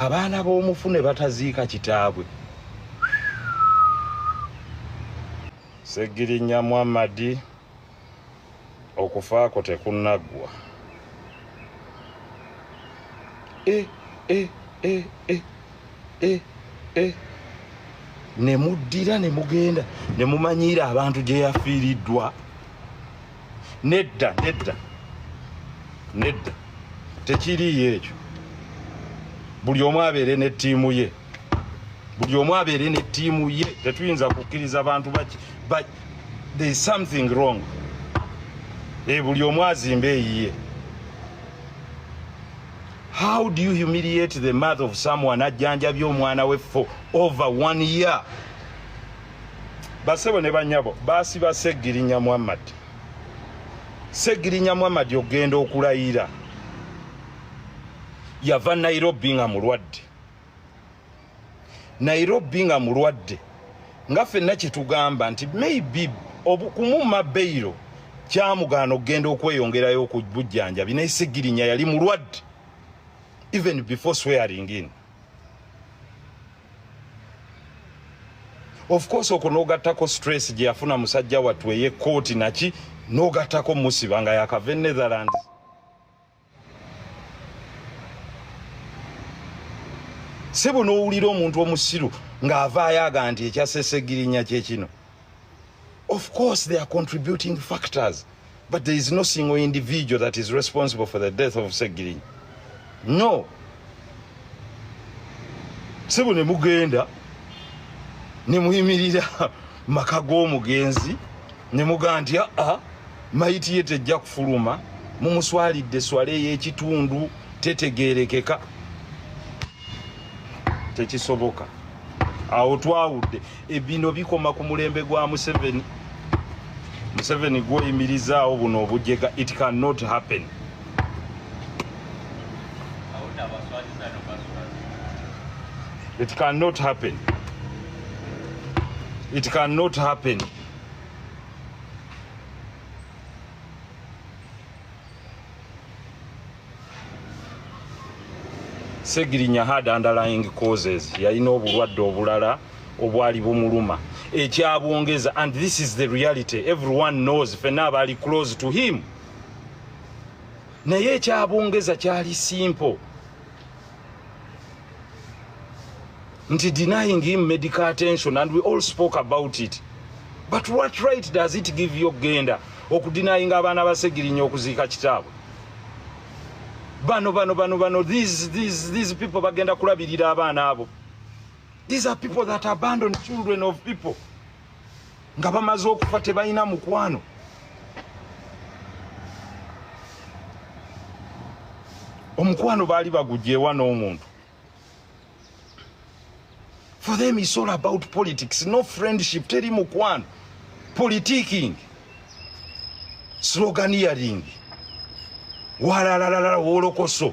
abaana b'omufu ne bataziika kitaabwe segirinya muhammadi okufaako tekunaggwa e, e, e, e, e, e. ne muddira ne mugenda ne mumanyiira abantu gye yafiiriddwa nedda nedda nedda tekiriiyo ekyo buli omu abeere ne ttiimu ye buli omu abeere ne ttiimu ye tetuyinza kukkiriza bantu baki but there is something wrong e buli omu azimba eyiye how do you humiliate the mother of someone ajjanjabye omwana we for over one year basebo ne banyabo basiba segirinya muhammad segirinya muhammad ogenda okulayira yava nairobi nga mulwadde nairobi nga mulwadde nga fenna kyetugamba nti maybe obukumuma beyiro kyamugaana okugenda okweyongerayo okubujjanjabi naye segirinya yali mulwadde even before swearing in of course okwo n'ogattako stress gye yafuna musajja wattu ey'ekkooti naki n'ogattako musiba nga yakava e netherlands sebo n'owulira omuntu omusiru ng'avaayo aga nti ekyasesegirinya kye kino Of course they are contributing factors but there is no single individual that is responsible for the death of Segirinya. No. Sebo ne mugenda ne muyimirira maka g'omugenzi ne muga nti aa ah, ah, mayiti ye tejja kufuluma mumuswalidde swala ey'ekitundu tetegeerekeka tekisoboka awo twawudde ebino bikoma ku mulembe gwa museveni museveni gwoyimirizaawo buno obujega it can not happen it can not happen it can not happen segirinya had underlying causes yalina obulwadde obulala obwali bumuluma ekyabwongeza and this is the reality everyone knows fena abali close to him naye ekyabwongeza kyali simple nti denying him medical attention and we all spoke about it but what right does it give you okugenda okudinayinga abaana basegirinya okuziika kitaabwe bano bano bano bano these, these, these people bagenda kulabirira abaana abo these are people that abandon children of people nga bamaze okufa tebalina mukwano omukwano baali bagugyewa n'omuntu for them is all about politics no friendship teri mukwano politiking sloganiering walalalala wolokoso